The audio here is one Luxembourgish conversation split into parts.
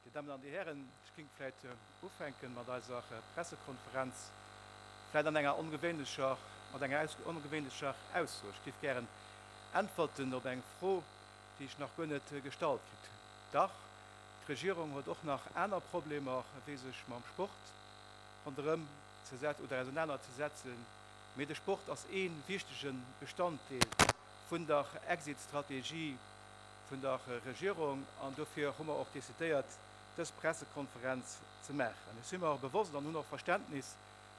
Dir Dammen an Dir Hären, ech géing vläit ufänken mat eiser Pressekonferenz, vläit an enger ongewéinlecher, mat enger ongewéinlecher Ausso. Ech géif gären äntwerten op eng Fro, déi ech nach guer net gestallt kritt hunn. Dach, d'Regierung huet och nach aner Problemer wéi sech mam Sport ronderëm ze setzen oder ausenaner ze setzen, mee de Sport ass ee wichtege Bestanddeel vun der Exit-Strategie vun der Regierung an dofir hu mer och decidéiert dës Pressekonferenz ze maachen. Ech si mer bewosst an hunn och Verständnis,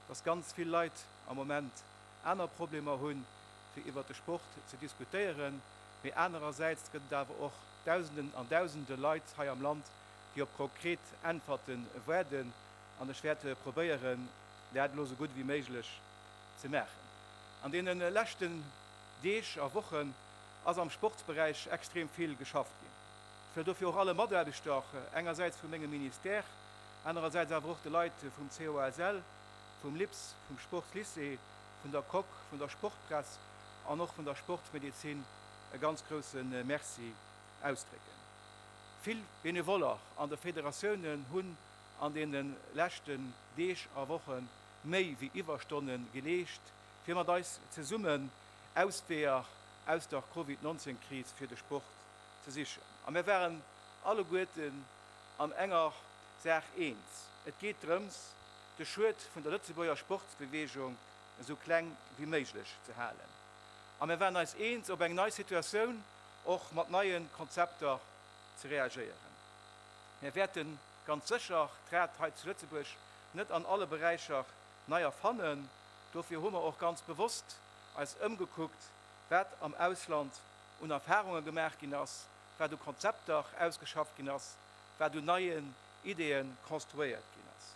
dass ganz vill Leit am Moment aner Problemer hunn, fir iwwert de Sport ze diskutéieren. mee anerersäits gëtt et awer och Dausenden an Dausende Leit hei am Land, déi op konkret Äntwerte waarden. An ech wäert probéieren, dat elo esou gutt wéi méiglech ze maachen. An deene leschten Deeg a Wochen ass am Sportsberäich extrem vill geschafft ginn. Ech wëll dofir och alle Mataarbechter, och engersäits vu mengem Ministère, anerersäits awer och de Leit vum COASL, vum LIPS, vum Sportslycée, vun der Coque, vun der Sportpress an och vun der Sportsmedezin e ganz grousse Merci ausdrécken. Vill Benevoller an de Federatiounen hunn an deene leschten Deeg a Woche méi wéi Iwwerstonne geleescht, fir mat eis zesummen Ausweeër aus der Covid 19 Kris fir de Sport ze sichen. A mir waren alleguerten an enger Saach eens, et geet drëms, de Schued vun der Lëtzebuerger Sportsbeweegung esou kleng wéi méiglech ze halen. A mir waren eis eens, op eng nei Situatioun och mat neie Konzepter ze reagéieren. Mir wäerte ganz sécher d'Rad hei zu Lëtzebuerg net an alle Beräicher nei erfannen. Dofir hu mer och ganz bewosst eis ëmgekuckt, wat am Ausland un Erfarunge gemaach ginn ass, wat u Konzepter ausgeschafft ginn ass, wat un neien Ideeë konstruéiert ginn ass.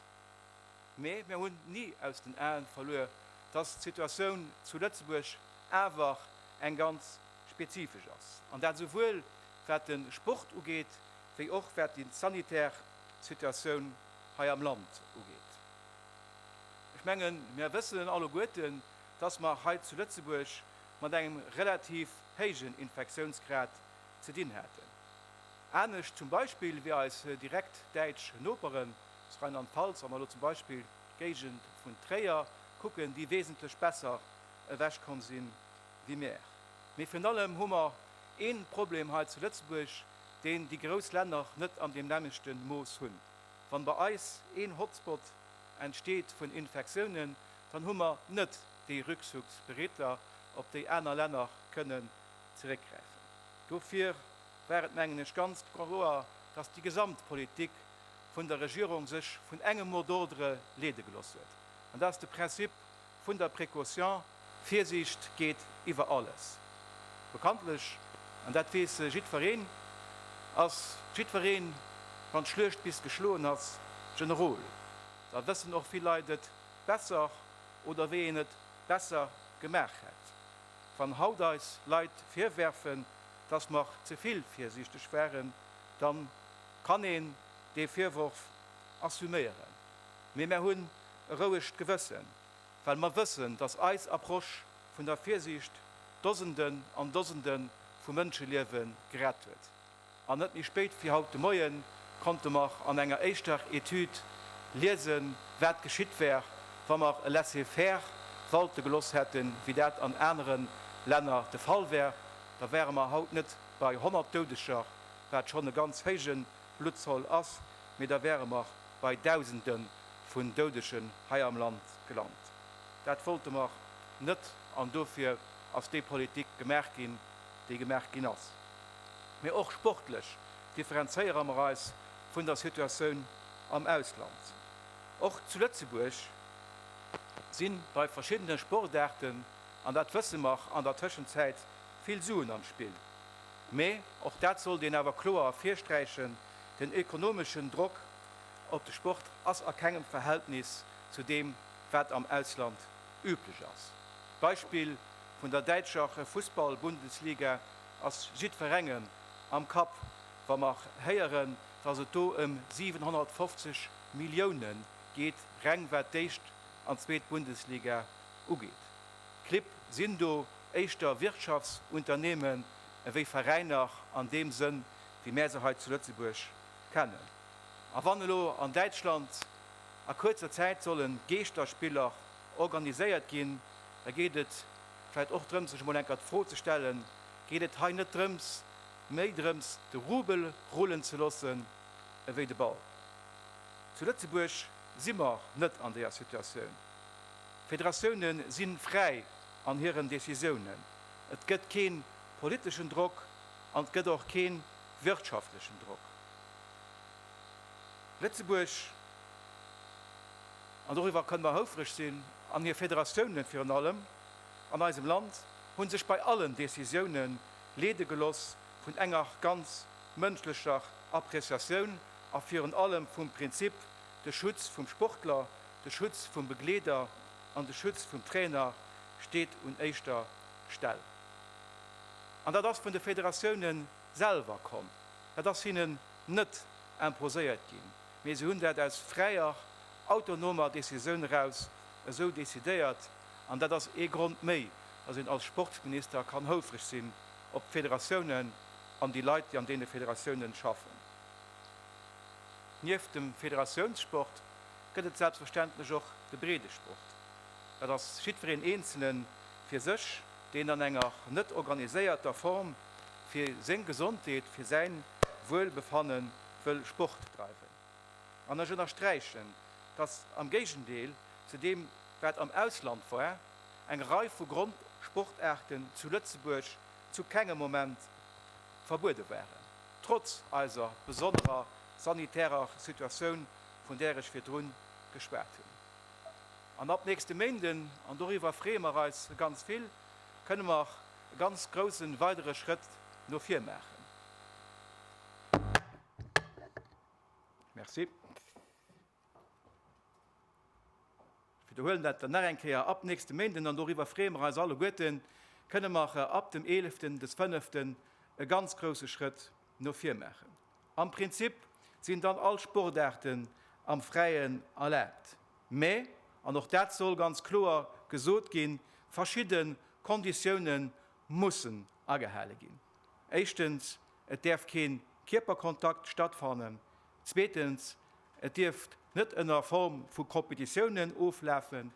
Mee mir hunn ni aus den Aen verluer, dass d'Situatioun zu Lëtzebuerg awer eng ganz spezifesch ass, an dat esouwuel wat den Sport ugeet, wéi och wat déi sanitär Situatioun hei am Land ugeet. Ech mengen, mir wëssen alleguerten, dass mer hei zu Lëtzebuerg mat engem relativ héijen Infektiounsgrad ze dinn haten. Anescht zum Beispill wéi eis direkt däitsch Noperen aus Rheinland-Pfalz, wa mer elo zum Beispill d'Géigend vun Tréier kucken, déi wesentlech besser ewech komm si wéi mär. Mee virun allem hu mer ee Problem hei zu Lëtzebuerg, deen déi grouss Länner net an deem nämmlechte Mooss hunn. Wann bei eis een Hotspot entsteet vun Infektiounen, dann hu mer net déi Rückzugsbereedler, op déi aner Länner kënnen zeréckgräifen. Dofir war et, mengen ech, ganz kloer, dass déi gesamt Politik vun der Regierung sech vun engem Mot d'ordre leede gelooss huet, an dat ass de Prinzip vun der Précaution, Virsiicht geet iwwer alles. Bekanntlech, an dat weess jiddwereen, ass jiddwereen, wann d'Schluecht bis geschloen ass, Generol. Da wëssen och vill Leit et besser oder wéi een et besser gemaach hätt. Wann haut eis Leit virwerfen, dass mer ze vill virsiichteg waren, dann kann een dee Virworf assuméieren. Mee mer hunn e rouegt Gewëssen, well mer wëssen, dass eis Approche vun der Virsiicht Dosenden an Dosende vu Mënscheliewe gerett huet. An net méi spéit wéi haut de Moien konnte mer an enger éischter Etüd liesen, wat geschitt wär, wa mer e Laissez-faire walte geloss hätten, wéi dat an anere Länner de Fall wär. Da wäre mer haut net bei 100 Doudeger, wat schonn e ganz héije Bluttzoll ass, mee da wäre mer bei Dausende vun Doudegen hei am Land gelant. Dat wollte mer net an dofir ass déi Politik gemaach ginn, déi gemaach ginn ass. mee och sportlech differenzéiere mer eis vun der Situatioun am Ausland. Och zu Lëtzebuerg si bei verschiddene Sportaarten, an dat wësse mer, an der Tëschenzäit vill Suen am Spill. Mee, och dat sollt een awer kloer ervirsträichen, den ekonomeschen Drock op de Sport ass a kengem Verhältnis zu deem, wat am Ausland üblech ass. D'Beispill vun der däitscher Fussball-Bundesliga ass jiddwerengem am Kapp, wa mer héieren, dass et do ëm 750 Millioune geet, reng wat d'éischt an zweet Bundesliga ugeet. Clibb sinn do éischter Wirtschaftsunternehmen ewéi Veräiner an deem Sënn, wéi mär se hei zu Lëtzebuerg kennen. A wann elo an Däitschland a kuerzer Zäit solle Geeschterspiller organiséiert ginn, da geet et, vläit och drëms sech emol enker d'Fro ze stellen, geet et hei net drëms méi drëms de Rubel rullen ze lossen ewéi de Ball? Zu Lëtzebuerg si mer net an deeër Situatioun. D'Federatioune si fräi an hiren Decisiounen. Et gëtt kee politeschen Drock an et gëtt och kee wirtschaftlechen Drock. Lëtzebuerg. An doriwwer kënne mer houfreg sinn. An hir Federatiounen, virun allem an eisem Land, hu sech bei allen Decisiounen leede geloss vun enger ganz mënschlecher Appreciatioun a virun allem vum Prinzip, de Schutz vum Sportler, de Schutz vum Begleeder an de Schutz vum Trainer steet un éischter Stell. An dat ass vun de Federatiounen selwer komm. Dat ass hinnen net imposéiert ginn. mee se hunn dat aus fräier, autonomer Decisioun eraus esou decidéiert. An dat ass ee Grond méi, datt een als Sportsminister kann houfreg sinn op d'Federatiounen an déi Leit, déi an deene Federatiounen schaffen. Nieft dem Federatiounssport gëtt et selbstverständlech och de Breedesport. Dat ass jiddwereen Eenzelne fir sech, deen an enger net organiséierter Form fir seng Gesondheet, fir säin Wuelbefannen wëll Sport dreiwen. An ech ënnersträichen, dass am Géigendeel zu deem, wat am Ausland war, eng Rei vu Grondsportaarten zu Lëtzebuerg zu kengem Moment verbuede waren, trotz eiser besonnerer sanitärer Situatioun, vun där ech virdrun geschwat hunn. An ab nächste Méinden, an doriwwer freeë mer eis ganz vill, kënne mer e ganz grousse weidere Schrëtt no vir maachen. Merci. Wiederhuelen dat dann nach eng Kéier ab nächste Méinden an doriwwer freeë mer eis alleguerten. Kënne mer ab dem Eeleften, des Fënneften, e ganz grouse Schrëtt no vir maachen. Am Prinzip sinn dann all Sportaarten am Fräien erlaabt, mä, an och dat soll ganz kloer gesot ginn, verschidde Konditioune mussen agehale ginn. Éischtens et däerf kee Kierperkontakt stattfannen, zweetens, et dierft net ënner Form vu Competitiounen oflafen,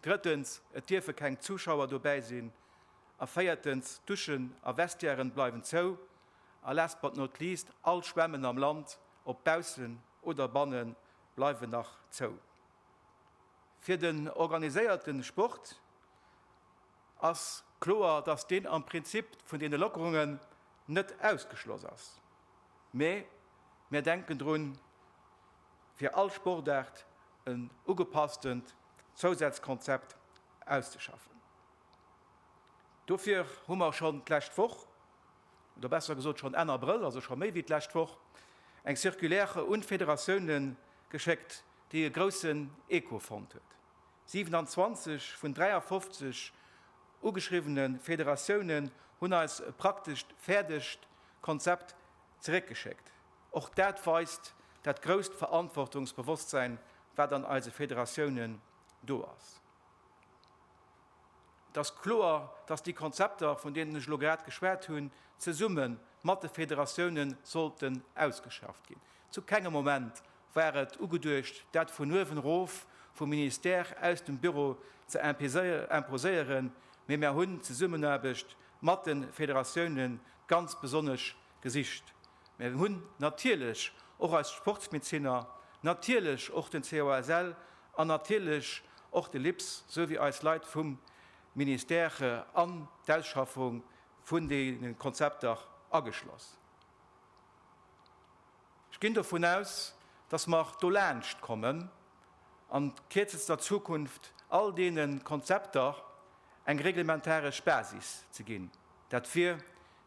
drëttens, et dierfe keng Zuschauer dobäi sinn, a véiertens, d'Duschen a Vestiairen bleiwen zou, a last but not least, all Schwämmen am Land, ob baussen oder bannen, bleiwen nach zou. Fir den organiséierte Sport. ass kloer, dass deen am Prinzip vun deene Lockerungen net ausgeschloss ass, mä mär denken drun, fir all Sportaart en ugepasstent Zousazkonzept auszeschaffen. Dofir hu mer schonn d'lescht Woch, oder besser gesot schonn Enn Abrëll, also scho méi wéi d'lescht Woch, eng Circulaire un d'Federatiounen geschéckt, déi e groussen Echo fonnt huet. 27 vun 53 ugeschriwwene Federatiounen hunn eis e praktescht fäerdegt Konzept zeréckgeschéckt. Och dat weist dat grousst Verantwortungsbewosstsein, wat an eise Federatiounen do ass. Et ass kloer, dass déi Konzepter, vun deenen ech elo grad geschwat hunn, zesumme mat de Federatiounen sollten ausgeschafft ginn. Zu kengem Moment War et ugeduecht, dat vun uewen erof vum Ministère aus dem Büro ze imposéieren, mee mär hunn d'Zesummenaarbecht mat de Federatioune ganz besonnesch gesicht. Mär hunn natierlech och eis Sportsmezinner, natierlech och den COSL an natierlech och de LIPS sou wéi eis Leit vum Ministère an d'Ausschaffung vun deene Konzepter ageschloss. Ech ginn dovun aus, dass mer do laanscht kommen an kierzester Zukunft all deene Konzepter eng reglementaresch Basis ze ginn. Dat wier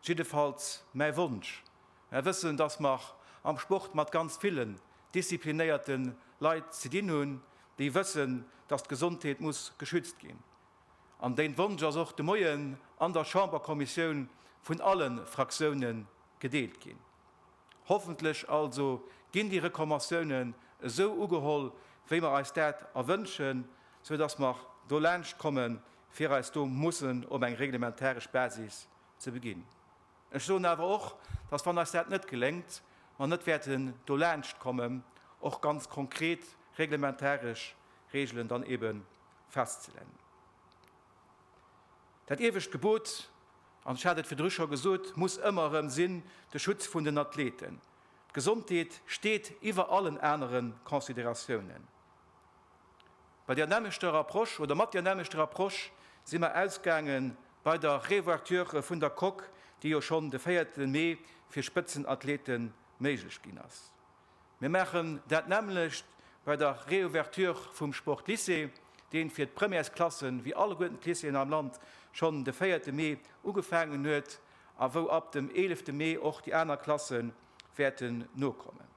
jiddefalls mäi Wonsch. Mer wëssen, dass mer am Sport mat ganz villen disziplinéierte Leit ze dinn hunn, déi wëssen, dass d'Gesondheet muss geschützt ginn. An deen Wonsch ass och de Moien an der Chamberkommissioun vun alle Fraktiounen gedeelt ginn. Hoffentlech also ginn déi Reklmatiounen esou ugeholl, wéi mer eis dat erwënschen, sou dass mer dolaanscht kommen, fir eis do mussen op eng reglementaresch Basis ze beginn. Ech soen awer och, dass, wann eis dat net geléngt, mer net wäerten dolaanscht kommen, och ganz konkret reglementaresch Regelen dann ebe festzelennen. Dat iewescht Gebot, an ech hat et virdru scho gesot, muss ëmmer erëm sinn, de Schutz vun den Athleten. D'Gesondheet steet iwwer allen anere Consideratiounen. Bei där nämmlechter Approche oder mat där nämmlechter Approche si mer ausgaange bei der Réouverture vun der Coque, déi jo schonn de véierte Mee fir Spëtzenathlete méiglech ginn ass. Mir maachen dat nämmlecht bei der Reouverture vum Sportlycée, deen fir d'Premièresklassen, wéi alleguerten d'Lycéeën am Land, schonn de véierte Mee ugefaangen huet a wou ab dem eelefte Mee och déi aner Klasse wäerten nokommen.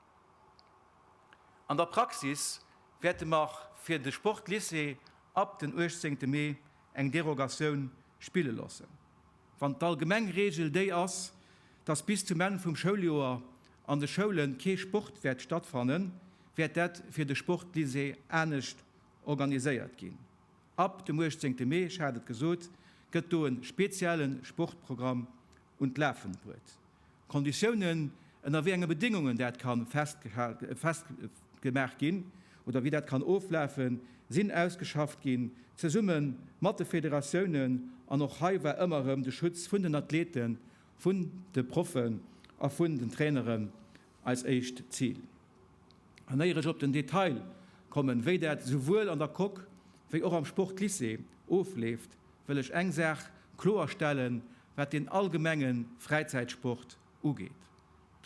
An der Praxis wäerte mer fir de Sportlycée ab den uechtzéngte Mee eng Derogatioun spille loossen. Wann d'allgemeng Regel déi ass, dass bis zum Enn vum Schouljoer an de Schoule kee Sport wäert stattfannen, wäert dat fir de Sportlycée anescht organiséiert ginn. Ab dem 18 Mee, ech hat et gesot, gëtt do e spezielle Sportprogramm un d'Lafen bruet. Konditiounen, ënner wéi enge Bedéngungen dat ka festgemaach ginn oder wéi dat kann oflafen, sinn ausgeschafft ginn, zesumme mat de Federatiounen. An och hei war ëmmer erëm de Schutz vun den Athleten, vun de Proffen a vun den Traineren eis éischt Zil. An éier ech op den Detail kommen, wéi dat souwuel an der Coque wéi och am Sportlycée ofleeft, wëll ech eng Saach kloer stellen, wat den allgemenge Fräizäitsport ugeet.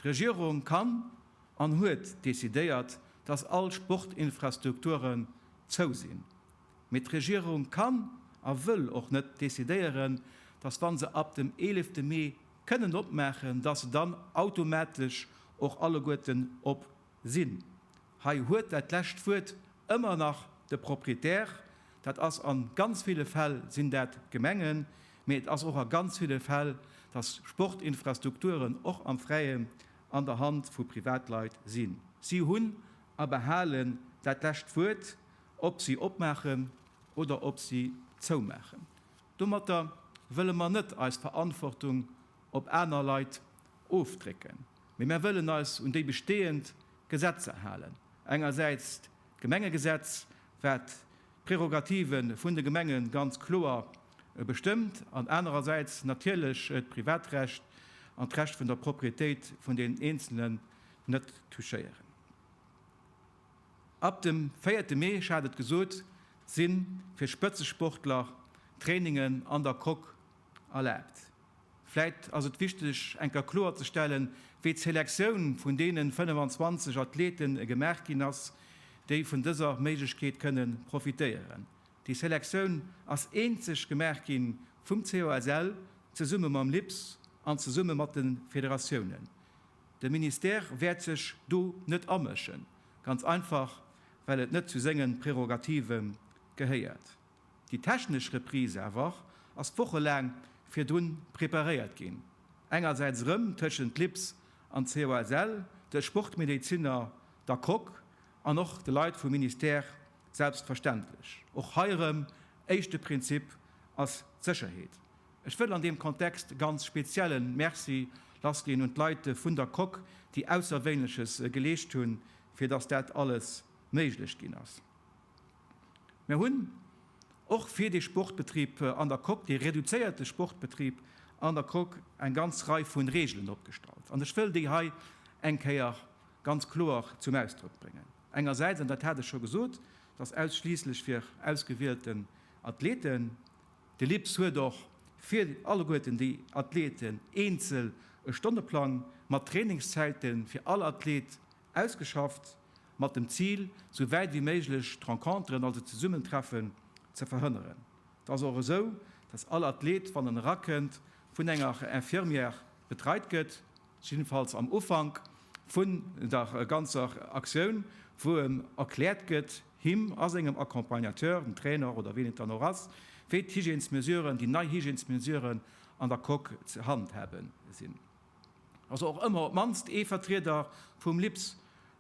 D'Regierung kann an huet decidéiert, dass all Sportinfrastrukturen zou sinn. Mee d'Regierung kann a wëll och net decidéieren, dass wa se ab dem eelefte Mee kënnen opmaachen, dass se dann automatesch och alleguerten op sinn. Hei huet dat lescht Wuert ëmmer nach de Proprietär. Dat ass a ganz ville Fäll sinn dat d'Gemengen, mee et ass och a ganz ville Fäll, dass Sportinfrastrukturen och am Fräien an der Hand vu Privatleit sinn. Si hunn a behalen dat lescht Wuert, ob si opmaachen oder ob si zoumaachen. Domatter wëlle mer net eis Verantwortung op aner Leit ofdrécken. Mee mär wëllen eis un déi bestehend Gesetzer halen, engersäits d'Gemengegesetz, wat d'Prerogative vun de Gemenge ganz kloer bestëmmt, an anerersäits natierlech d'Privatrecht an d'Recht vun der Proprietéit vun den Eenzelen net touchéieren. Ab dem véierte Mee, ech hat et gesot, si fir Spëtzesportler Trainingen an der Coque erlaabt. Vläit ass et wichteg eng Kéier kloer ze stellen, wéi d'Selektioun vun deene 25 Athlete gemaach ginn ass, déi vun dëser Méiglechkeet kënnen profitéieren. Déi Selektioun ass eenzeg gemaach gi vum COSL zesumme mam LIPS an zesumme mat de Federatiounen. De Ministère wäert sech do net amëschen, ganz einfach well et net zu senge Prerogative gehéiert. Déi technesch Reprise awer ass wochelaang virdrun preparéiert ginn, engersäits erëm tëschent LIPS an COSL, de Sportmedeziner, der Coque an och de Leit vum Ministère selbstverständlech. Och hei erëm, éischte Prinzip ass d'Sécherheet. Ech wëll an deem Kontext e ganz spezielle Merci lassginn un d'Leit vun der Coque, déi Ausserwéinleches geleescht hunn, fir datt dat alles méiglech ginn ass. Mir hunn och fir de Sportbetrib an der Coque, de reduzéierte Sportbetrib an der Coque, eng ganz Rei vun Regeln opgestallt. An ech wëll déi hei eng Kéier ganz kloer zum Ausdrock bréngen. Engersäits, an dat hat ech scho gesot, dass ausschliisslech fir ausgewielten Athleten, de LIPS huet och fir alleguerten déi Athleten eenzel e Stonneplang mat Trainingszäite fir all Athlet Ausgeschafft mat dem Zil, sou wäit wéi méiglech d'Renconteren, also d'Zesummentreffen, ze verhënneren. Et ass och esou, dass all Athlet, wann en erakënnt, vun enger Infirmière betreit gëtt, jiddefalls am Ufank vun der ganzer Aktioun, wou em erkläert gëtt, him a sengem Accompagnateur, dem Trainer oder wien et dann och ass, wéi d'Hygiènesmesuren, déi nei Hygiènesmesuren an der Coque ze handhaben sinn. ass och ëmmer op d'mannst ee Vertrieder vum LIPS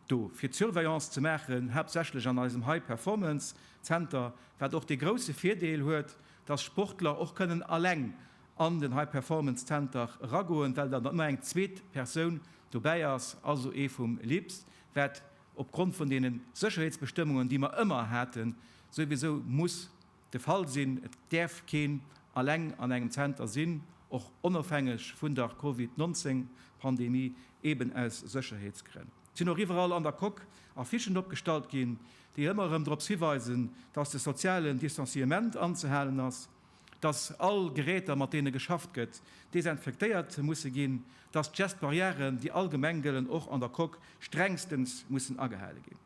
do fir d'Surveillance ze maachen, haaptsächlech an eisem High Performance Zenter, wat och dee grousse Virdeel huet, dass Sportler och kënnen alleng an den High Performance Zenter eragoen, well dann ëmmer eng zweet Persoun dobäi ass, also ee vum LIPS, wat opgrond vun deene Sécherheetsbestëmmungen, déi mer ëmmer haten, souwisou muss. de Fall sinn. Et däerf keen alleng an engem Zenter sinn, och onofhängeg vun der Covid 19 Pandemie, eben aus Sécherheetsgrënn. Et sinn och iwwerall an der Coque Affichen opgestallt ginn, déi ëmmer erëm drops hiweisen, datt de sozialen Distanciement anzehalen ass, datt all Geräter mat deene geschafft gëtt desinfektéiert musse ginn, datt d'Geste barrièren, déi allgemeng gëllen, och an der Coque strengstens mussen agehale ginn.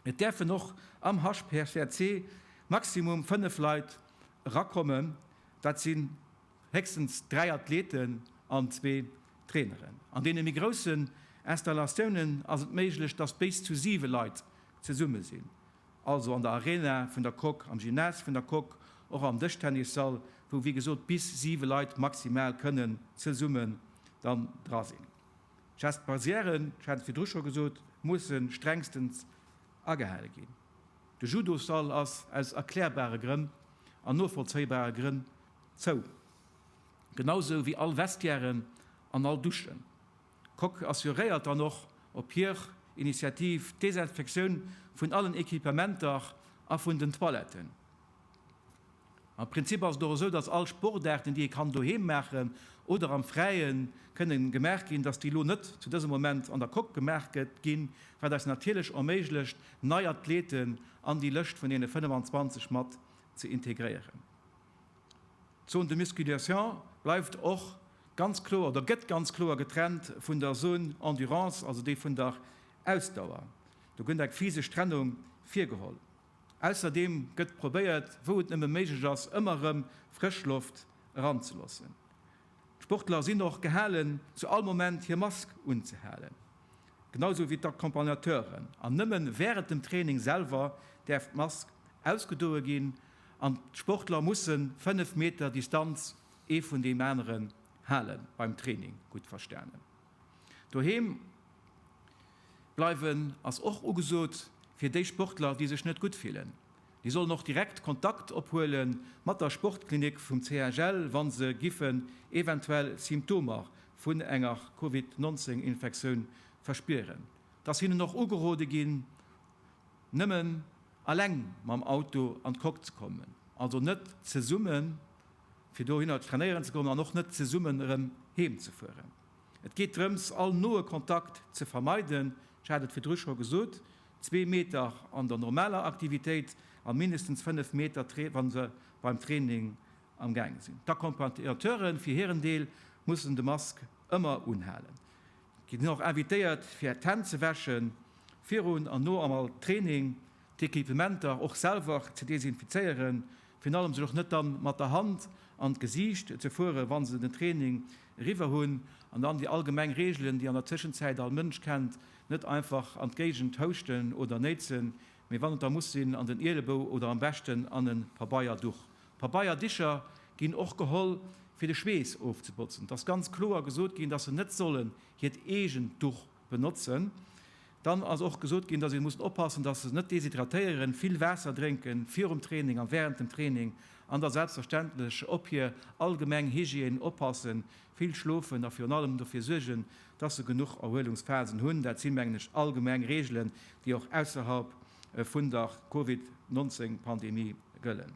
Et däerfen och am HCR maximum 5 Leit erakommen, dat sinn héchstens 3 Athleten an zwee Traineren. An deene méi groussen Installatiounen ass et méiglech, dass béis zu 7 Leit zesumme sinn, also an der Arena vun der Coque, am Gymnase vun der Coque, och am Dëschtennissall, wou wéi gesot bis 7 Leit maximal kënnen zesumme dann dra sinn. Gestes barrièren, ech hat et virdru scho gesot, mussen strengstens agehale ginn. De Judosall ass aus erklärbare Grënn an novollzéibare Grënn zou, genau esou wéi all Vestiairen an all Duschen. D'Coque assuréiert dann och op hir Initiativ d'Desinfektioun vun allen Equipementer a vun den Toiletten. Am Prinzip ass et och esou, dass all Sportaarten, déi ee kann doheem maachen oder am Fräien kënne gemaach ginn, dass déi elo net zu dësem Moment an der Coque gemaach gëtt ginn, wat eis natierlech erméiglecht, nei Athleten an déi Lëscht vun deene 25 mat ze integréieren. D'Zone de musculation bleift och ganz kloer oder gëtt ganz kloer getrennt vun der Zone endurance, also déi vun der Ausdauer. Do gëtt eng physesch Trennung virgeholl. Ausserdeem gëtt probéiert, wou et nëmme méiglech ass, ëmmer erëm frësch Loft eranzeloossen. D'Sportler sinn och gehalen, zu all Moment hir Mask unzehalen, genau sou wéi d'Accompagnateuren, an nëmme wärend dem Training selwer däerf d'Mask ausgedoe ginn an d'Sportler musse 5 Meter Distanz ee vun deem aneren halen, beim Training gutt verstanen. Doheem bleiwen ass och ugesot. Fir déi Sportler, déi sech net gutt fillen, déi sollen och direkt Kontakt ophuele mat der Sportklinik vum CHL, wa se giffen eventuell Symptomer vun enger Covid 19 Infektioun verspieren. Et ass hinnen och ugerode ginn, nëmmen alleng mam Auto an d'Coque ze kommen, also net zesumme fir dohinner trainéieren ze goen an och net zesummen erëm heem ze fueren. Et geet drëms, all noe Kontakt ze vermeiden, ech hat et virdru scho gesot, zwee Meter an der normaler Aktivitéit a mindestens fënnef Meter, wa se beim Training am Gaang sinn. D'Accompagnateure fir hiren Deel mussen de Mask ëmmer unhalen. Dir sidd och invitéiert, fir d'Hänn ze wäschen, virun an no all Training. d'Equipementer och selwer ze desinfizéieren, virun allem sech och net dann mat der Hand an d'Gesiicht ze fueren, wa se den Training eriwwer hunn, an dann déi allgemeng Reegelen, déi an der Tëschenzäit all Mënsch kennt, net einfach an d'Géigend houschten oder néitsen, mee wann et da muss sinn, an den Ielebou oder am beschten an e Pabeierduch. Pabeierdicher ginn och geholl, fir de Schweess ofzebotzen. Et ass ganz kloer gesot ginn, dass se net sollen hiert eegent Duch benotzen. Dann ass och gesot ginn, dass ee muss oppassen, dass se net deshydratéieren, vill Waasser drénken virum Training a wärend dem Training an da selbstverständlech op hir allgemeng Hygiène oppassen, vill schlofen a virun allem dofir suergen, dass se genuch Erhuelungsphasen hunn. Dat si mengen ech allgemeng Reegelen, déi och ausserhalb vun der Covid 19 Pandemie gëllen.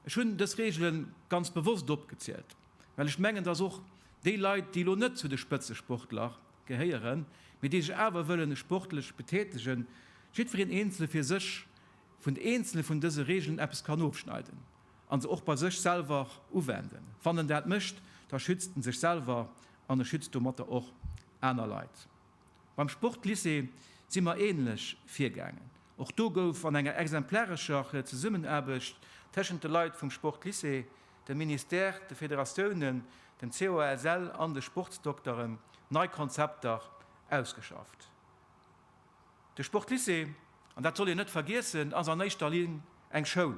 Ech hunn dës Reegelen ganz bewosst opgezielt, well ech mengen, dass och déi Leit, déi elo net zu de Spëtzesportler gehéieren, mee déi sech awer wëllen sportlech betätegen, jiddwereen eenzele fir sech vun eenzele vun dëse Regeln eppes kann ofschneiden a se och bei sech selwer uwenden. Wann en dat mécht, da schützt en sech selwer an e schützt domatter och aner Leit. Beim Sportlycée si mer änlech virgaangen. Och do gouf an enger exemplarescher Zesummenaarbecht téschent de Leit vum Sportlycée dem Ministère, de Federatiounen, dem COSL an de Sportsdokteren nei Konzepter ausgeschafft. De Sportlycée, an dat soll een net vergiessen, ass an éischter Linn eng Schoul.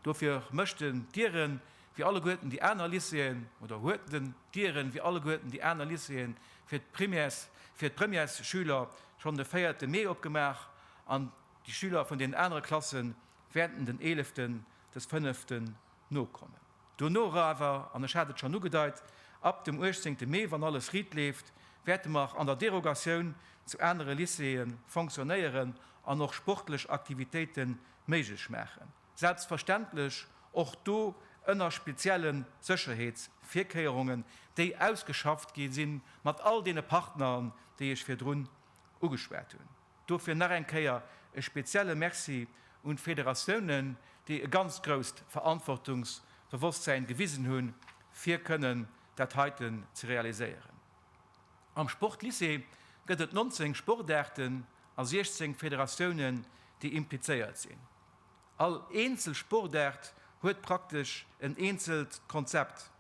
Dofir mécht en d'Dieren, wéi alleguerten déi aner Lycéeën, oder huet en d'Dieren, wéi alleguerten déi aner Lycéeën, fir d'Primaires, fir d'Premièresschüler schonn de véierte Mee opgemaach an déi Schüler vun den anere Klasse wäerten den eeleften, des fënnefte Nokommen. Duerno era awer, an ech hat et schonn ugedeit, ab dem uechtzéngte Mee, wann alles riit leeft, wäerte mer an der Derogatioun zu anere Lycéeë fonctionnéieren an och sportlech Aktivitéite méiglech maachen, selbstverständlech och do ënner spezielle Sécherheetsvirkéierungen, déi ausgeschafft gi sinn mat all deene Partneren, déi ech virdrun ugeschwat hunn. Dofir nach eng Kéier e spezielle Merci un d'Federatiounen, déi e ganz grousst Verantwortungsbewosstsäin gewisen hunn, fir kënnen dat heiten ze realiséieren. Am Sportlycée gëtt et 19 Sportaarten a 16 Federatiounen, déi implizéiert sinn. All eenzel Sportaart huet praktesch en eenzelt Konzept.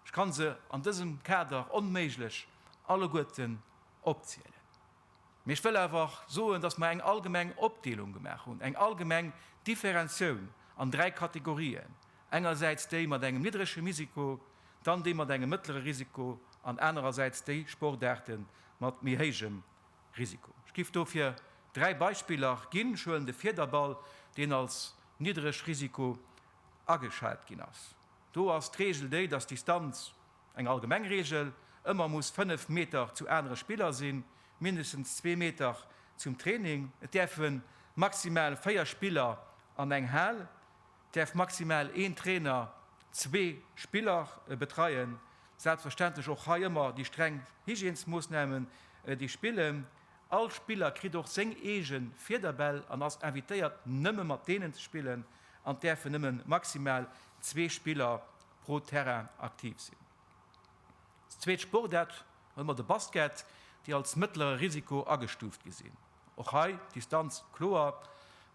Ech kann se an dësem Kader onméiglech alleguerten opzielen. Mee ech wëll awer och soen, dass mer eng allgemeng Opdeelung gemaach hunn, eng allgemeng Differenzioun an dräi Kategorien, engersäits déi mat engem niddrege Misiko, dann déi mat engem mëttlere Risiko an anerersäits déi Sportaarte mat méi héijem Risiko. Ech giff dofir dräi Beispiller ginn. Ech huelen de Fiederball, deen als niddreg Risiko ageschat ginn ass. Do ass d'Regel déi, dass d'Distanz Eng allgemeng Reegel, Ëmmer muss 5 Meter zu anere Spiller sinn, mindestens zwee Meter zum Training. Et däerfe maximal 4 Spiller an eng Hal, et däerf maximal een Trainer zwee Spiller betreien. Selbstverständlech och hei ëmmer déi streng Hygiènesmoossnamen, déi spillen. All Spiller kritt och seng eege Fiederbäll an ass invitéiert nëmme mat deenen ze spillen an et däerfen nëmme maximal zwee Spiller pro Terrain aktiv sinn. Als zweet Sportaart hu mer de Basket, déi als mëttlere Risiko agestuuft gi sinn. Och hei d'Distanz kloer,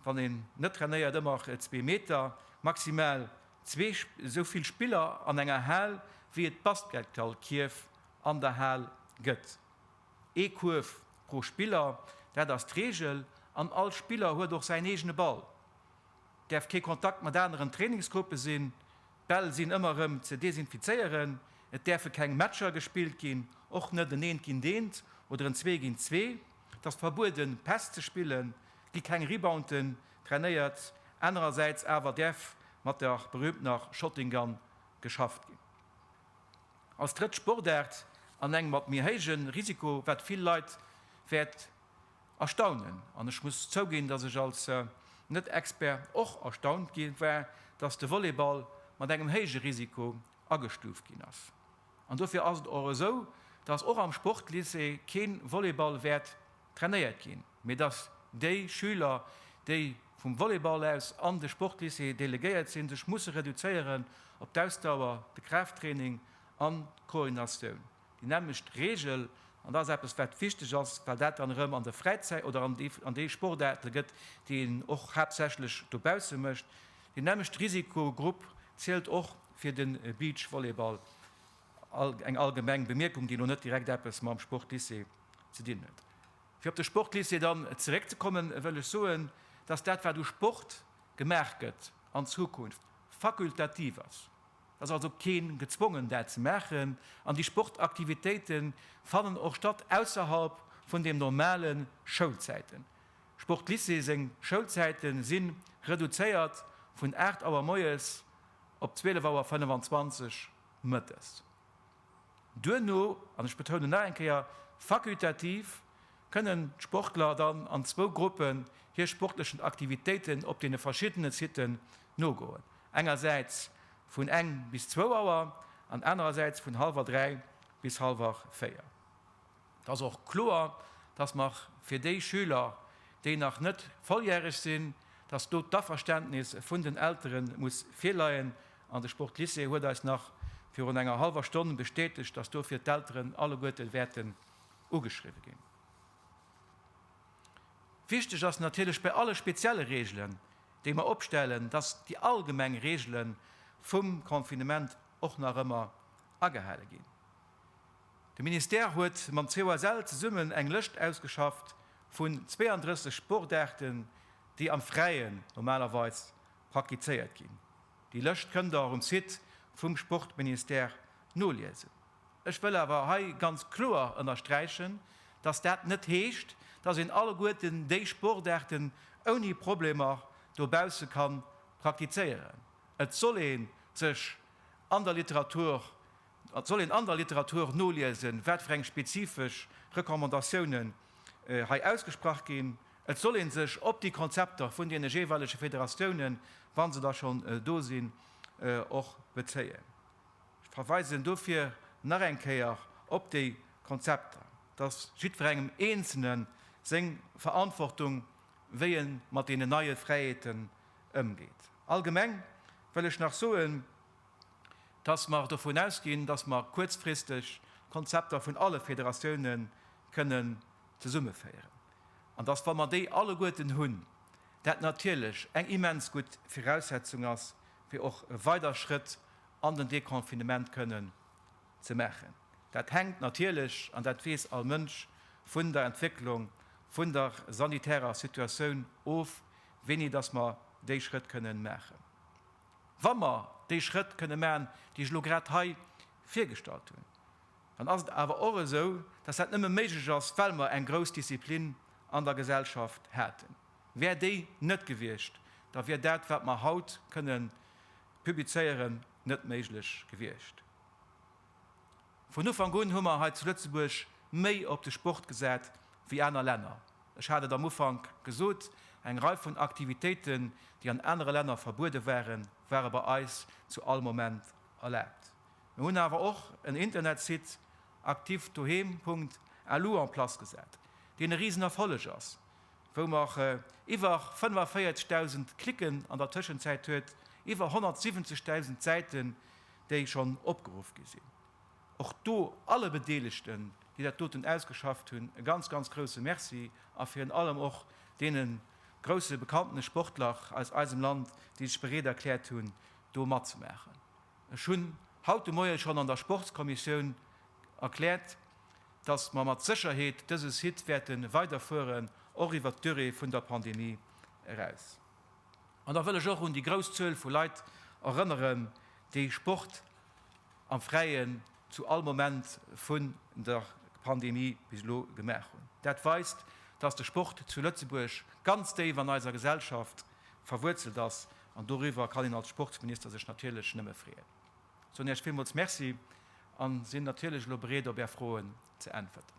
wann een net trainéiert, ëmmer zwee Meter, maximal zwee esou vill Spiller an enger Hal, wéi et Basketgallkierf an der Hal gëtt. Ee Kuerf pro Spiller, dat ass d'Reegel an all Spiller huet och säin eegene Ball. däerf kee Kontakt mat aneren Trainingsgruppe sinn, d'Bäll sinn ëmmer erëm ze desinfizéieren, et däerfe keng Matcher gespillt ginn, och net en Eent géint Eent oder en Zwee géint Zwee. Et ass verbueden, Päss ze spillen, et gi keng Rebounten trainéiert, anerersäits awer däerf mat der berüümtener Shotting Gun geschafft ginn. Als drëtt Sportaart an engem mat méi héijen Risiko, wat vill Leit wäert Erstaunen, an ech muss zouginn, datt ech als Net-Expert och erstaunt gi war, datt de Volleyball mat engem héije Risiko agestuuft ginn ass. An dofir ass et och esou, datt och am Sportlycée kee Volleyball wäert trainéiert ginn, mee datt déi Schüler, déi vum Volleyball aus an de Sportlycée delegéiert sinn, sech musse reduzéieren op d'Ausdauer, de Kraafttraining an d'Koordinatioun. Déi nämmlecht Reegel, an dat ass eppes, wat wichteg ass, well dat dann erëm an der Fräizäit oder an deene Sportaarte gëtt, déi een och haaptsächlech dobausse mécht, deen nämmlechte Risikogrupp zielt och fir de Beachvolleyball. Eng allgemeng Bemierkung, déi elo net direkt eppes mam Sportlycée ze dinn huet. Fir op de Sportlycée dann zeréckzekommen, wëll ech soen, dass dat, wat u Sport gemaach gëtt, an Zukunft fakultativ ass. Et ass also keen gezwongen dat ze maachen an déi Sportaktivitéite fannen och statt ausserhalb vun dem normale Schoulzäiten. Sportlycée seng Schoulzäite si reduzéiert vun 8 Auer moies op 12 Auer 25 mëttes. Duerno, an ech betounen nach eng Kéier, fakultativ, kënnen d'Sportler dann an zwou Gruppen hir sportlechen Aktivitéiten op deene verschiddene Siten nogoen. Engersäits vun eng bis zwou Auer an anerersäits vun hallwer dräi bis hallwer véier. Et ass och kloer, dass mer fir déi Schüler, déi nach net volljäreg sinn, dass do d'Averständnis vun den Eltere muss virleien. An de Sportlycée huet eis nach virun enger hallwer Stonn bestätegt, dass dofir d'Elteren alleguerte wäerten ugeschriwwe ginn. Wichteg ass natierlech bei alle spezielle Reegelen, déi mer opstellen, dass déi allgemeng Reegele vum Confinement och nach ëmmer agehale ginn. De Ministère huet mam COSL zesummen eng Lëscht ausgeschafft vun 32 Sportaarten, déi am Fräien normalerweis praktizéiert ginn. Déi Lëscht kënnt Der och um Site vum Sportministère noliesen. Ech wëll awer hei ganz kloer ënnersträichen, dass dat net heescht, dass een alleguerten déi Sportaarten ouni Problemer dobausse ka praktizéieren. Et soll ee sech an der Literatur, et soll een an der Literatur noliesen, wat fir eng spezifesch Recommandatiounen hei ausgesprach ginn. Et soll ee sech op déi Konzepter vun deene jeeweilege Federatiounen, wa se da schonn do sinn, och bezéien. Ech verweisen dofir nach eng Kéier op déi Konzepter, dass jiddwerengem Eenzelne seng Verantwortung, wéi e mat deenen neie Fräiheeten ëmgeet. Allgemeng wëll ech nach soen, dass mer dovun ausginn, dass mer kuerzfristeg d'Konzepter vun alle Federatioune kënnen zesummeféieren an dass, wa mer déi alleguerten hunn, dat natierlech eng immens gutt Viraussetzung ass, fir och weider Schrëtt an den Deconfinement kënnen ze maachen. Dat hänkt natierlech, an dat weess all Mënsch, vun der Entwécklung vun der sanitärer Situatioun of, wéini dass mer déi Schrëtt kënnen maachen. Wa mer déi Schrëtt kënnen maachen, déi ech elo grad hei virgestallt hunn, dann ass et awer och esou, dass dat nëmme méiglech ass, well mer eng grouss Disziplin an der Gesellschaft haten. Wär déi net gewiescht, da wier dat, wat mer haut kënne publizéieren, net méiglech gewiescht. Vun Ufank un hu mer hei zu Lëtzebuerg méi op de Sport gesat wéi aner Länner. Ech hat et am Ufank gesot, eng Rei vun Aktivitéiten, déi an anere Länner verbuede waren, ware bei eis zu all Moment erlaabt. Mir hunn awer och en Internetsite, activedoheem. Lu, en place gesat, deen e Risenerfolleg ass, wou mer iwwer 45.000 Klicken an der Tëschenzäit huet, iwwer 170.000 Säiten, déi schonn opgeruff gi sinn. Och do alle Bedeelegten, déi dat doten ausgeschafft hunn, e ganz, ganz grouse Merci a virun allem och deene grouse bekanntene Sportler aus eisem Land, déi sech bereet erkläert hunn, do matzemaachen. Ech hunn haut de Moie schonn an der Sportskommissioun erkläert, dass mer mat Sécherheet dëse Site wäerte weiderfueren, och iwwert d'Durée vun der Pandemie eraus. An da wëll ech och un déi grouss Zuel vu Leit erënneren, déi Sport am Fräien zu all Moment vun der Pandemie bis elo gemaach hunn. Dat weist, dass de Sport zu Lëtzebuerg ganz déif an eiser Gesellschaft verwuerzelt ass, an doriwwer kann een als Sportsminister sech natierlech nëmme freeën. Soen Iech villmools Merci an sinn natierlech elo bereet op Är Froen ze äntwerten.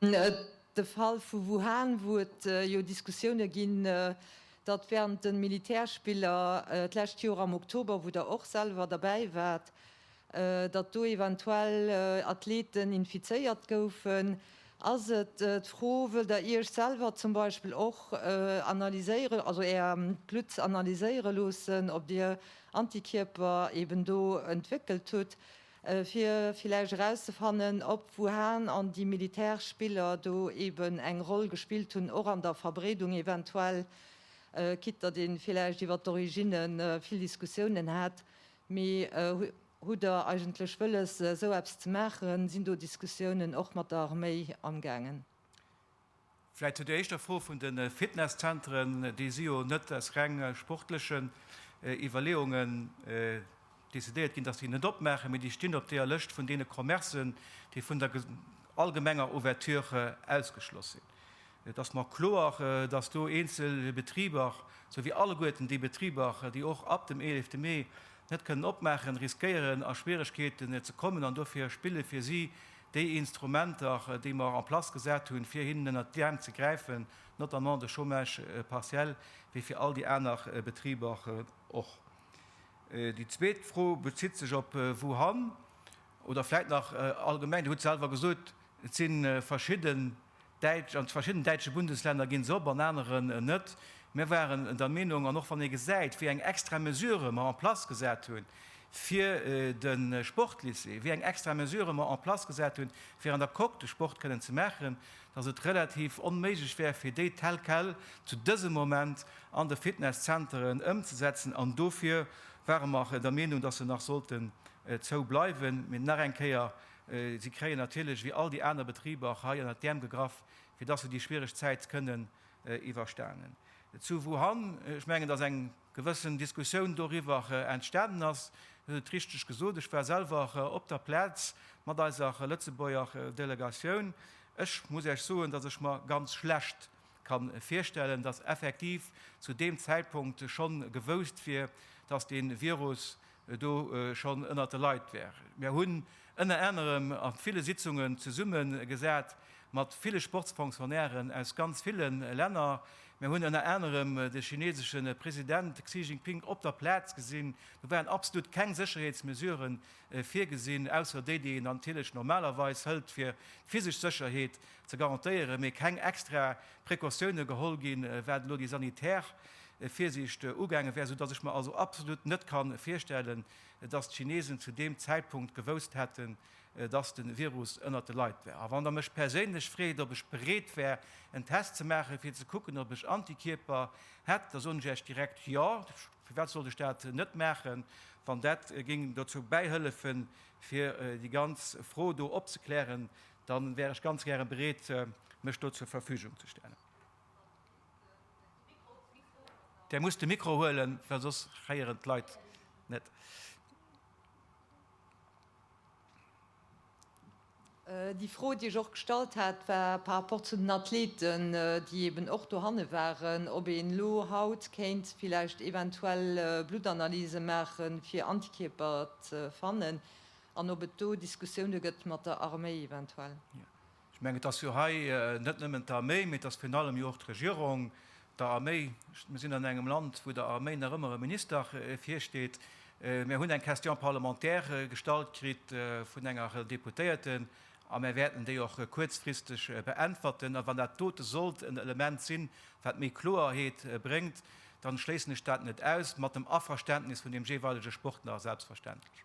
De Fall vu Wuhan, wou et jo Diskussioune ginn, datt wärend de Militärspiller d'lescht Joer am Oktober, wou Der och selwer derbäi waart, datt do eventuell Athleten infizéiert goufen, ass et d'Fro, wëllt Der Iech selwer zum Beispill och analyséieren, also Är Blutt analyséiere loossen, ob Dir Antikierper eben do entwéckelt hutt, fir villäicht erauszefannen, ob, wouhan an déi militäresch Spiller do eben eng Roll gespillt hunn, och an der Verbreedung eventuell, quitte datt ee villäicht iwwer d'Originne vill Diskussiounen hat. Mee hutt Der eigentlech wëlles, esou eppes ze maachen? Sinn do Diskussiounen och mat der Arméi amgaangen? Vläit zu der éischter Fro vun de Fitnesszentren, déi si jo net aus reng sportlechen Iwwerleeungen decidéiert ginn, datt se déi net opmaachen, mee déi stinn op deeër Lëscht vun deene Commercen, déi vun der allgemenger Ouverture ausgeschloss sinn. Et ass mer kloer, datt do eenzel Betriber, sou wéi alleguerten déi Betriber, déi och ab dem eelefte Mee net kënnen opmaachen, riskéieren a Schwieregkeeten ze kommen an dofir spille fir si déi Instrumenter, déi mer en place gesat hunn, fir hinnen ënnert d'Äerm ze gräifen, notamment de Chômage partiel, wéi fir all déi aner Betriber och. Déi zweet Fro bezitt sech op Wuhan oder vläicht nach allgemeng. Dir hutt selwer gesot, et si verschidde Däitsch, an verschidden däitsche Bundeslänner ginn se op, an aneren net. Mir waren der Meenung, an och wann ee gesäit, wéi eng extra Mesure mer en place gesat hu fir de Sportlycée, wéi eng extra Mesure mer en place gesat hu fir an der Coque de Sport kënnen ze maachen, dass et relativ onméiglech wär fir déi tel quel zu dësem Moment an de Fitnesszenteren ëmzesetzen. An dofir ware mer der Meenung, dass se nach sollten zou bleiwen. Mee nach eng Kéier, Si kréien natierlech, wéi all déi aner Betriber, och hei ënnert d'Äerm gegraff, fir dass se déi schwiereg Zäit kënnen iwwerstanen. Zu Wuhan, ech mengen, dass eng gewëssen Diskussioun doriwwer entstanen ass. Dir hutt et richteg gesot, ech war selwer op der Plaz mat eiser Lëtzebuerger Delegatioun. Ech muss Iech soen, dass ech mer ganz schlecht ka virstellen, dass effektiv zu deem Zäitpunkt schonn gewousst wier, dass dee Virus do schonn ënnert de Leit wär. Mir hunn ënner anerem a ville Sitzungen zesumme gesat mat ville Sportsfonctionnairen aus ganz ville Länner. Mir hunn ënner anerem de chinesesche President Xi Jinping op der Plaz gesinn. Do waren absolut keng Sécherheetsmesurë virgesinn, ausser déi, déi een natierlech normalerweis hëlt, fir d'physesch Sécherheet ze garantéieren, mee keng extra Precautioune geholl ginn, wat elo déi sanitär Virsiicht ugaange wär, soudatt ech mer also absolut net ka virstellen, datt d'Chinesen zu deem Zäitpunkt gewousst hätten, datt de Virus ënnert de Leit wär. A wann Der mech perséinlech freet, ob ech bereet wär, en Test ze maachen, fir ze kucken, ob ech Antikierper hätt, da soen ech Iech direkt jo. Firwat sollt ech dat net maachen, wann dat géing dozou bäihëllefen, fir déi ganz Fro do opzeklären? Da wär ech ganz gäre bereet, mech do zur Verfügung ze stellen. Där muss de Mikro huelen, well soss héieren d'Leit net. Déi Fro, déi ech och gestallt hat, war par rapport zu den Athleten, déi eeben och dohanne waren, ob een elo haut kéint villäicht eventuell Bluttanalyse maache fir Antikierper ze fannen an ob et do Diskussioune gëtt mat der Arméi eventuell. Ech mengen, et ass jo hei net nëmmen d'Arméi, mee et ass virun allem jo och d'Regierung, der Arméi. Mir sinn an engem Land, wou der Arméi nach ëmmer e Minister virsteet. Mir hunn eng Question parlementaire gestallt kritt vun enger Deputéierte a mir wäerten déi och kuerzfristeg beäntwerten. A wann dat dote sollt en Element sinn, wat méi Kloeerheet bréngt, dann schléissen ech dat net aus, mat dem Averständnis vun deem jeeweilege Sportler selbstverständlech.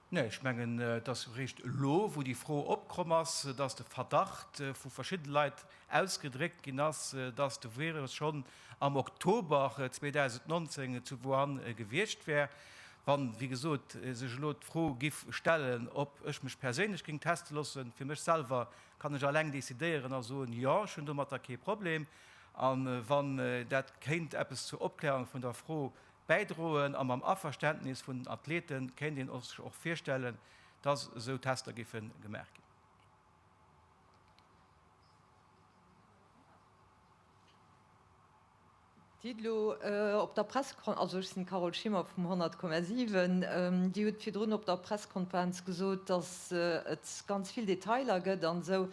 Nee, ech mengen, et ass eréischt elo, wou déi Fro opkomm ass, dass de Verdacht vu verschiddene Leit ausgedréckt ginn ass, dass de Virus schonn am Oktober 2019 zu Wuhan gewiescht wär. Wann, wéi gesot, sech elo d'Fro giff stellen, ob ech mech perséinlech géing teste loossen, fir mech selwer kann ech alleng decidéieren a soen, jo, ech hunn domatter kee Problem, a wann dat kéint eppes zur Opklärung vun der Fro bäidroen a mam Averständnis vun den Athlete kéint een sech och virstellen, dass esou Tester géife gemaach ginn. Dir hutt elo op der Pressekon-, also ech sinn d'Carole Schimmer vum 100,7, Dir hutt virdrun op der Pressekonferenz gesot, dass et ganz vill Detailer gëtt an esou,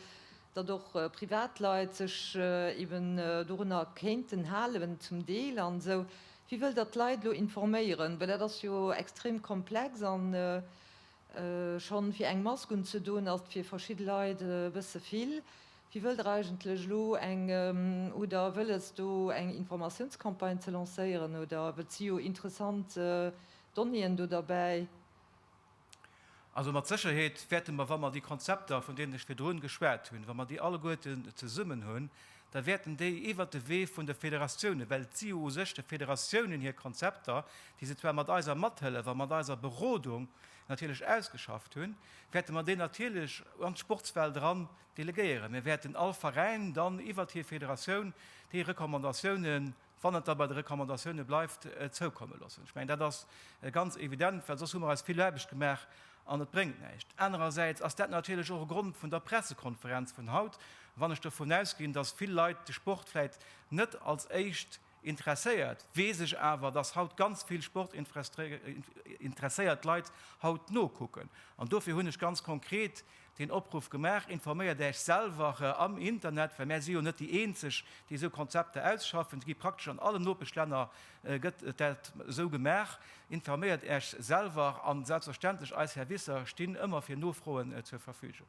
datt och Privatleit sech eeben dorunner kéinten halen, zum Deel an esou. Wie wëll da d'Leit elo informéieren? Well dat ass jo extrem komplex a schonn fir eng Mask unzedoen ass et fir verschidde Leit e bësse vill. Wie wëll der eigentlech elo eng, hutt der wëlles do eng Informatiounscampagne ze lancéieren oder, well et si jo interessant Donnéeën do derbäi, Also mat Sécherheet wäerte mer, wa mer déi Konzepter, vun deenen ech virdrun geschwat hunn, wa mer déi alleguerten zesummen hunn, da wäerten déi iwwert de Wee vun de Federatiounen, well et si jo u sech de Federatiounen hir Konzepter, déi se zwar mat eiser Mathëllef a mat eiser Berodung natierlech ausgeschafft hunn, wäerte mer déi natierlech an d'Sportswelt eran delegéieren. Mir wäerten all Veräin dann iwwert hir Federatioun déi Recommandatiounen wann et da bei de Recommandatioune bleift, zoukomme loossen. Ech mengen, dat ass ganz evident, well soss hu mer eis vill Aarbecht gemaach an et bréngt näischt. Anerersäits ass dat natierlech och e Grond vun der Pressekonferenz vun haut, wann ech dovun ausginn, datt vill Leit de Sport vläicht net als éischt interesséiert, weess ech awer, datt haut ganz vill sportinteresséiert Leit haut nokucken. An dofir hunn ech ganz konkret Deen Opruff gemaach, informéiert Äech selwer am Internet, well mär si jo net déi eenzeg, déi esou Konzepter ausschaffen. Se gi praktesch an allen Nopeschlänner gëtt dat esou gemaach. Informéiert Äech selwer an selbstverständlech eis Servicer stinn ëmmer fir Nofroen zur Verfügung.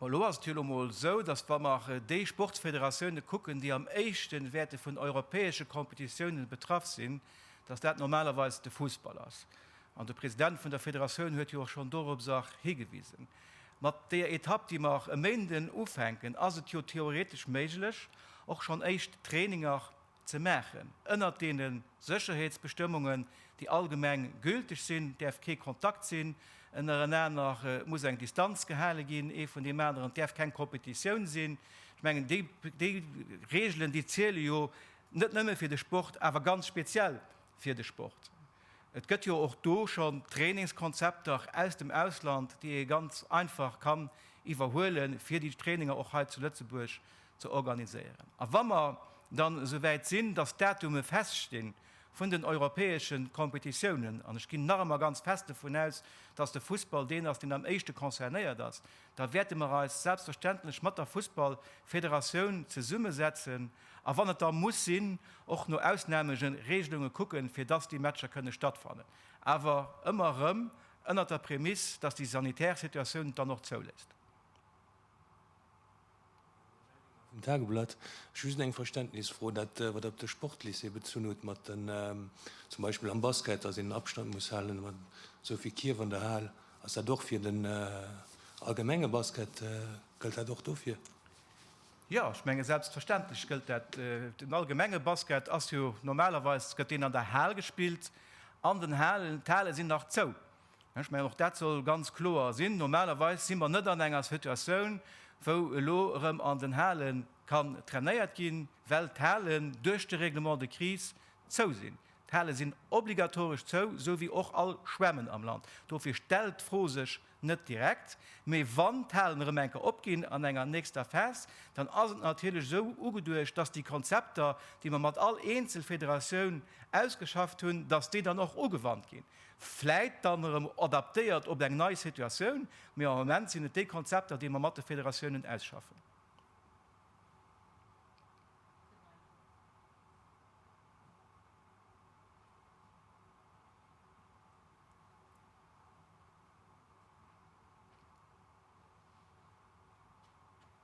Elo ass et jo emol esou, datt wa mer déi Sportsfederatioune kucken, déi am éischten wäerte vun europäesche Competitiounen betraff sinn, datt dat normalerweis de Fussball ass. An de President vun der Federatioun huet jo och schonn dorobser higewisen. Mat deeër Etapp, déi mer e Méinden ufänken, ass et jo theoretesch méiglech, och schonn éischt Traininger ze maachen. Ënnert deene Sécherheetsbestëmmungen, déi allgemeng gülteg sinn, däerf kee Kontakt sinn, ënnerenaner muss eng Distanz gehale ginn, ee vun deem aneren, et däerf keng Competitioun sinn. Ech mengen, déi Reegelen, déi ziele jo net nëmme fir de Sport, awer ganz speziell fir de Sport. Et gëtt jo och do schonn Trainingskonzepter aus dem Ausland, déi ee ganz einfach kann iwwerhuelen, fir déi Traininger och hei zu Lëtzebuerg ze organiséieren. A wa mer dann esou wäit sinn, dass d'Datume feststi vun den europäesche Kompetitiounen, an ech ginn nach ëmmer ganz fest dovun aus, dass de Fussball deen ass, deen am éischte concernéiert ass, da wäerte mer eis selbstverständlech mat der Fussballfederatioun zesummesetzen a wann et da muss sinn, och no Ausnameregelunge kucken, fir dass déi Matcher kënne stattfannen, awer ëmmer erëm ënnert der Prämisse, dass déi sanitär Situatioun et dann och zouléisst. Vum Tageblatt. Ech hu just eng Verständnisfro, dat wat Der op de Sportlycée bezunn hutt, mat den, zum Beispill am Basket, datt een den Abstand muss halen, mat esou vill Kierf an der Hal. Ass dat och fir den allgemenge Basket, gëllt dat och dofir? Jo, ech menge selbstverständlech gëllt dat. Den allgemenge Basket ass jo normalerweis, gëtt deen an der Hal gespillt, an den Halen, d'Hale sinn nach zou. Ech mengen, och dat soll ganz kloer sinn. Normalerweis si mer net an enger Situatioun, wou elo erëm an den Halen kann trainéiert ginn, well d'Halen duerch de Règlement de crise zou sinn. D'Hale sinn obligatoresch zou, sou wéi och all Schwämmen am Land. Dofir stellt d'Fro sech net direkt. Mee wann d'Halen erëm eng Kéier opginn an enger nächster Phas, dann ass et natierlech esou ugeduecht, dass déi Konzepter, déi mer mat all Eenzelfederatioun ausgeschafft hunn, dass déi dann och ugewannt ginn. Vläit dann erëm adaptéiert op eng nei Situatioun, mee am Moment sinn et déi Konzepter, déi mer mat de Federatiounen ausschaffen.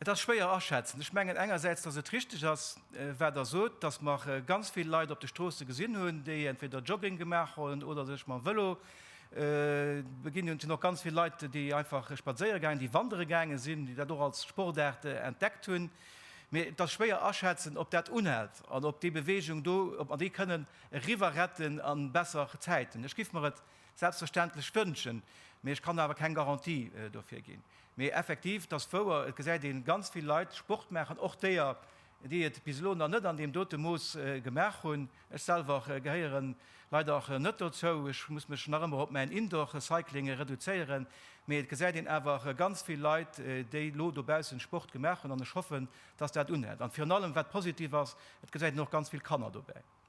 Et ass schwéier aschätzen. Ech mengen engersäits, datt et richteg ass, wat Der sot, datt mer ganz vill Leit op de Stroosse gesinn hunn, déi entweder Jogging gemaach hunn oder sech mam Vëlo beginn hunn. Et sinn och ganz vill Leit, déi einfach spadséiere gaangen, déi wandere gaange sinn, déi dat och als Sportaart entdeckt hunn. Mee et ass schwéier aschätzen, ob dat unhält an ob déi Beweegung do, ob mer déi kënnen eriwwerretten a besser Zäiten. Ech géif mer et selbstverständlech wënschen, mee ech kann awer keng Garantie dofir ginn. Mee effektiv, 't ass wouer, et gesäit ee ganz vill Leit Sport maachen, och déer, déi et bis elo nach net an deem dote Mooss gemaach hunn. Ech selwer gehéiere leider net dozou, ech muss mech nach ëmmer op mäin Indoor-Cycling reduzéieren. Mee et gesäit een awer ganz vill Leit, déi elo dobaussen Sport gemaach hunn, an ech hoffen, dass dat unhält. An virun allem, wat positiv ass, et gesäit een och ganz vill Kanner dobäi.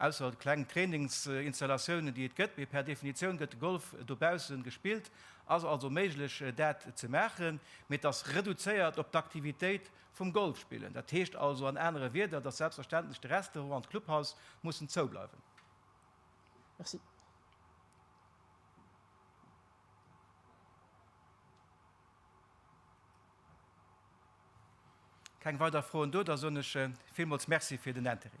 Ausser kleng Trainingsinstallatiounen, déi et gëtt, mee per Definitioun gëtt de Golf dobaussen gespillt, ass also méiglech dat ze maachen, mee et ass reduzéiert op d'Aktivitéit vum Golfspillen. Dat heescht also an anere Wierder, dass selbstverständlech de Restaurant an d'Clubhaus mussen zoubleiwen. Merci. Keng weider Froen do, da soen ech villmools Merci fir den Interêt.